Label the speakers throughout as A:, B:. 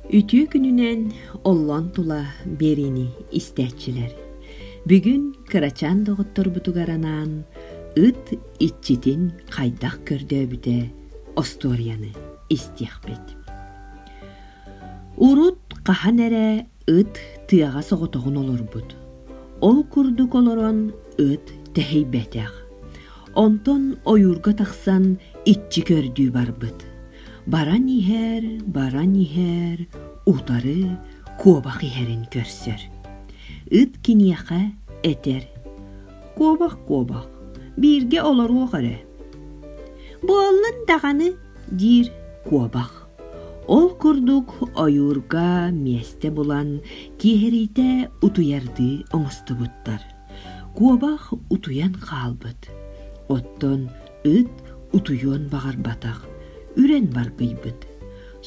A: Үтүө күнүнэн оллон тула биэриини истээччилэр. Бүгүн кырачаан доҕотторбутугар анаан ыт иччитин хайдах көрдөөбүтэ остуоруйаны истиэхпит. Урут хаһан эрэ ыт тыаҕа соҕотоҕун олорбут. Ол курдук олорон ыт тэһийбэтэх. Онтон ойуурга тахсан иччи көрдүү барбыт. баран иһэр баран иһэр утары куобах иһэрин көрсөр ыт киниэхэ этэр куобах куобах бииргэ олоруох эрэ буоллун даҕаны диир куобах ол курдук ойуурга миэстэ булан киэһэриитэ утуйардыы оҥостубуттар куобах утуйан хаалбыт оттон Ыт утуйуон баҕарбатах, үрэн баргыйбыт.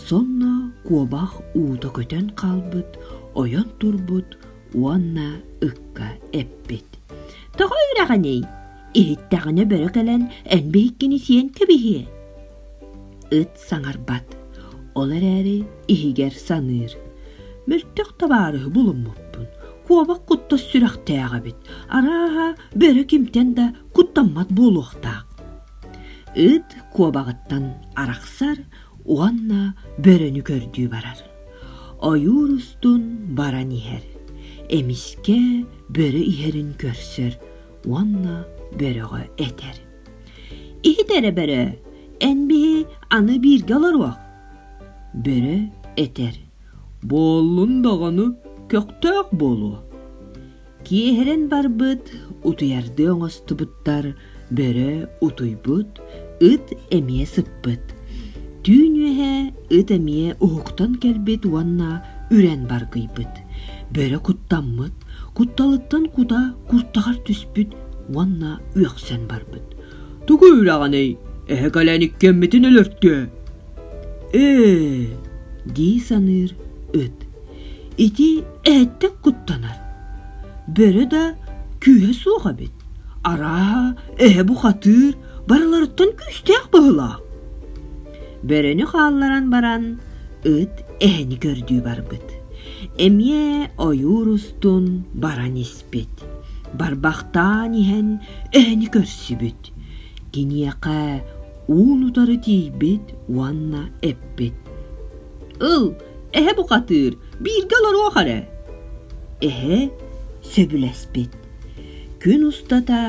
A: Сонно куобах уута көтөн хаалбыт, ойон турбут уонна ыкка эппит. Тоҕо үрэҕиний? Иһиттэҕинэ бөрө кэлэн эн биһиккини сиэн кэбиһиэ. Ыт саҥарбат. Ол эрээри иһигэр саныыр. Мөлтөх табаарыһы булуммуппун. Куобах куттас сүрэхтээх эбит. Арааһа, бөрө кимтэн да куттаммат буолуохтаах. Ыт куобаҕыттан арахсар уонна бөрөнү көрдүү барар. Ойуур устун баран иһэр. Эмискэ бөрө иһэрин көрсөр уонна бөрөҕө этэр. иһит эрэ бөрө эн биһи аны бииргэ олоруох бөрө этэр буоллун доҕону көхтөөх буолуо киэһэрэн барбыт утуйардыы оҥостубуттар бөрө утуйбут ыт эмиэ сыппыт түүн үөһэ ыт эмиэ уһуктан кэлбит уонна үрэн баргыйбыт бөрө куттаммыт кутталыттан кута куртаҕар түспүт уонна үөхсэн барбыт. «Тугу үрэҕиний, эһэ кэлэн иккиэммитин өлөртүө?» «Ээ...» дии саныыр ыт. «Ити эһэттэн куттанар. Бөрө да күүһэ суох эбит. Арааһа, эһэ бухатыыр, барыларыттан күүстээх быһылаах». Бөрөнү хаалларан баран, ыт эһэни көрдүү барбыт. Эмиэ ойуур устун баран испит. эппит барбахтаан иһэн эһэни көрсүбүт киниэхэ уун утары тиийбит уонна эппит ыл эһэ бухатыыр бииргэ олоруох эрэ эһэ сөбүлэспит күн устата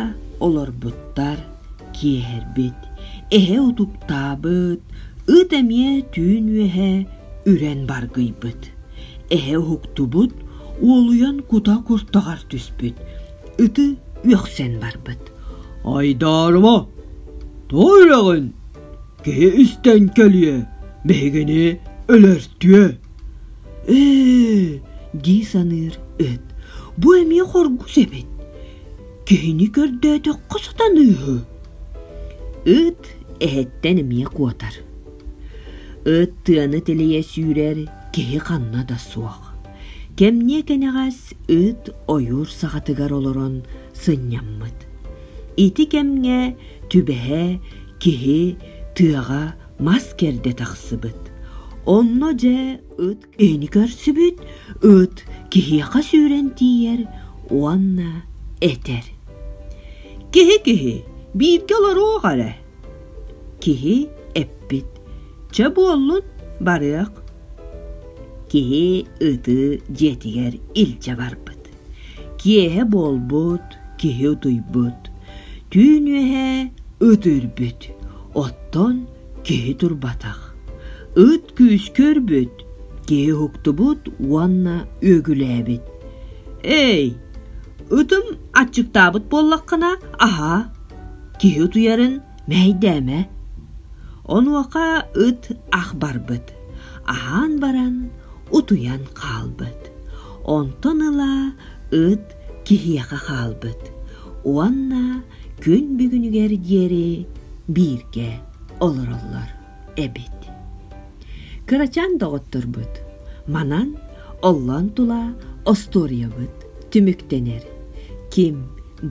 A: олорбуттар киэһэрбит эһэ утуктаабыт ыт эмиэ түүн үөһэ үрэн баргыйбыт эһэ уһуктубут уолуйан кута куртаҕар түспүт ыты үөхсэн барбыт айдаарыма тоҕо үрэҕин киһи истэн кэлиэ биһигини өлөртүө ээ дии саныыр ыт бу эмиэ хоргус эбит киһини көрдөөтөххө сатаныыһы ыт эһэттэн эмиэ куотар ыт тыаны тилийэ сүүрэр киһи ханна да суох Кэмниэ-кэнэҕэс ыт ойуур саҕатыгар олорон сынньаммыт. Ити кэмҥэ түбэһэ киһи тыаҕа мас кэрдэ тахсыбыт. Онно дьэ ыт киһини көрсүбүт, ыт киһиэхэ сүүрэн тиийэр уонна этэр: «Киһи-киһи, бииргэ олоруох эрэ, Киһи эппит «Чэ буоллун, барыах». Киһи ытыы дьиэтигэр илдьэ барбыт. Киэһэ буолбут, киһи утуйбут. Түүн үөһэ ыт үрбүт. Оттон киһи турбатах. Ыт күүскүрбүт, киһи уһуктубут уонна үөгүлээбит. «Эй, ытым аччыктаабыт буоллаххына, аһаа!» Киһи утуйарын мэһэйдээмэ. Онуоха ыт ах барбыт, аһаан баран утуйан хаалбыт. Онтон ыла ыт киһиэхэ хаалбыт уонна күн бүгүнүгэр диэри бииргэ олороллор. эбит. Кырачаан доҕотторбут манан оллоон тула остуоруйабыт түмүктэнэр. Ким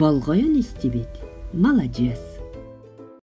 A: болҕойон истибит, маладьыас.